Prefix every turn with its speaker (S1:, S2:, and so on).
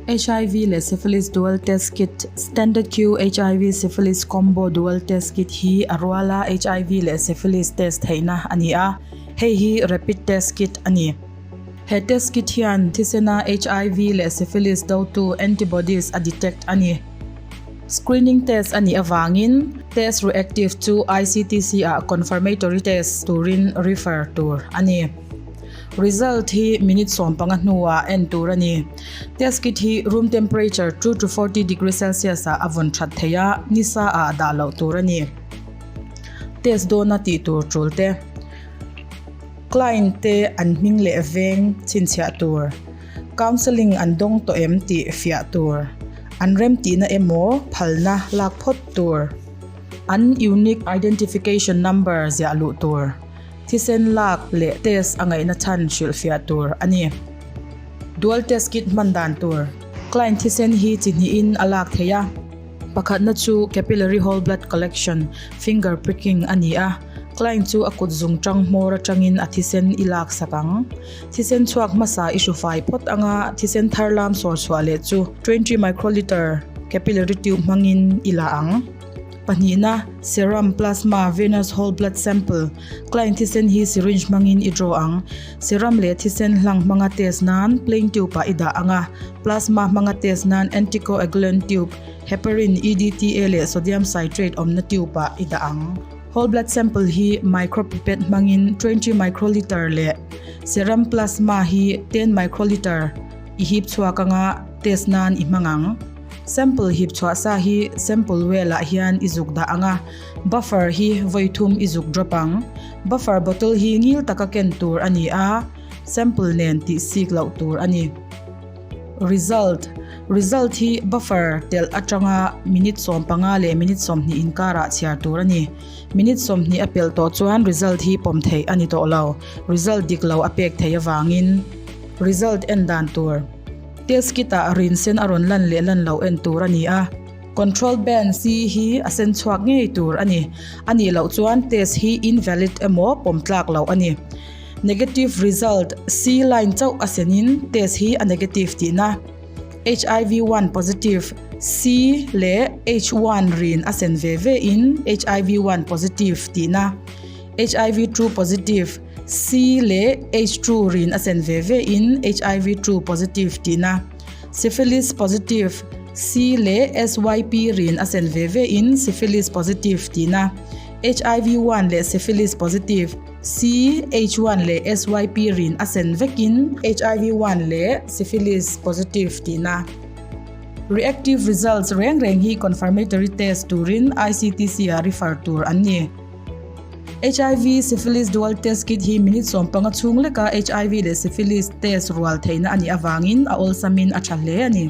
S1: HIV leh Syphilis Dual Test Kit, Standard Q HIV Syphilis Combo Dual Test Kit, hi a ruala HIV leh Syphilis test theihna a ni a, hei hi Rapid Test Kit a ni. He test kit hian thisena HIV leh Syphilis dotu, antibodies, a detect a ni. Screening test a nih avangin test reactive chu ICTC ah confirmatory test turin refer tur a ni. Result hi minute sawm panga hnuah en tur a ni. Test kit hi room temperature two to forty degree Celsius ah a vawn that thei a, ni sa ah dah loh tur a ni. Test dawna tih tur tul te, client te an hming leh veng chhinchhiah tur. Counselling an dawng tawh em tih fiah tur, an remtihna emaw phalna lak phawt tur, an Unique Identification Number ziah luh tur, thisen lak leh test a ngaihna chhan hrilh fiah tur a ni. Dual test kit hman dan tur. Client thisen hi chi hnihin a lak thei a. Pakhatna chu Capillary Whole Blood Collection, Finger Pricking, a ni a, client chu a kutzung ṭanghmawr aṭangin a thisen i laksak ang. Thisen chhuak hmasa i hru fai phawt anga thisen thar lam sawr chhuah leh chu twenty microliter capillary tube hmangin i la ang. Pahnihna, Serum, Plasma, Venous Whole Blood Sample, Client thisen hi syringe hmangin i draw ang. Serum leh thisen hlang hmanga test nan plain tube ah i dah anga Plasma hmanga test nan anticoagulant tube, heparin, EDTA leh sodium citrate awmna tube ah i dah ang. Whole blood sample hi micropipette hmangin twenty microliter leh serum plasma hi ten microliter i hip chhuak anga test nan i hmang ang. Sample hip chhuah sa hi sample well ah hian i zuk dah anga buffer hi vawi thum i zuk drop ang. Buffer bottle hi ngil taka ken tur a ni a, sample nen tih sik loh tur a ni. Result, Result hi buffer telh atanga minute sawm panga leh minute sawm hnih inkarah chhiar tur a ni. Minute sawm hnih a pelh tawh chuan result hi pawm theih a ni tawh lo, result dik lo a pek theih avangin. Result en dan tur, Test kit ah rin sen a rawn lan leh lan loh en tur a ni a. Control Ben C hi a sen chhuak ngei tur a ni. A nih loh chuan test hi invalid emaw pawm tlak loh a ni. Negative result, C line chauh a senin test hi a negative tihna. HIV one positive, C leh H one rin a sen ve ve in HIV one positive tihna. HIV two positive, C leh H two rin a sen ve ve in HIV two positive tihna. Syphilis positive, C leh SYP rin a sen ve ve in syphilis positive tihna. HIV one leh syphilis positive. CH one leh SYP rin a sen vekin HIV one leh Syphilis positive tihna reactive results reng reng hi confirmatory test turin ICTC-ah refer tur an ni. HIV Syphilis Dual Test Kit hi minute sawm panga chhung leka HIV leh Syphilis test rual theihna a nih avangin a awlsamin a tha hle a ni.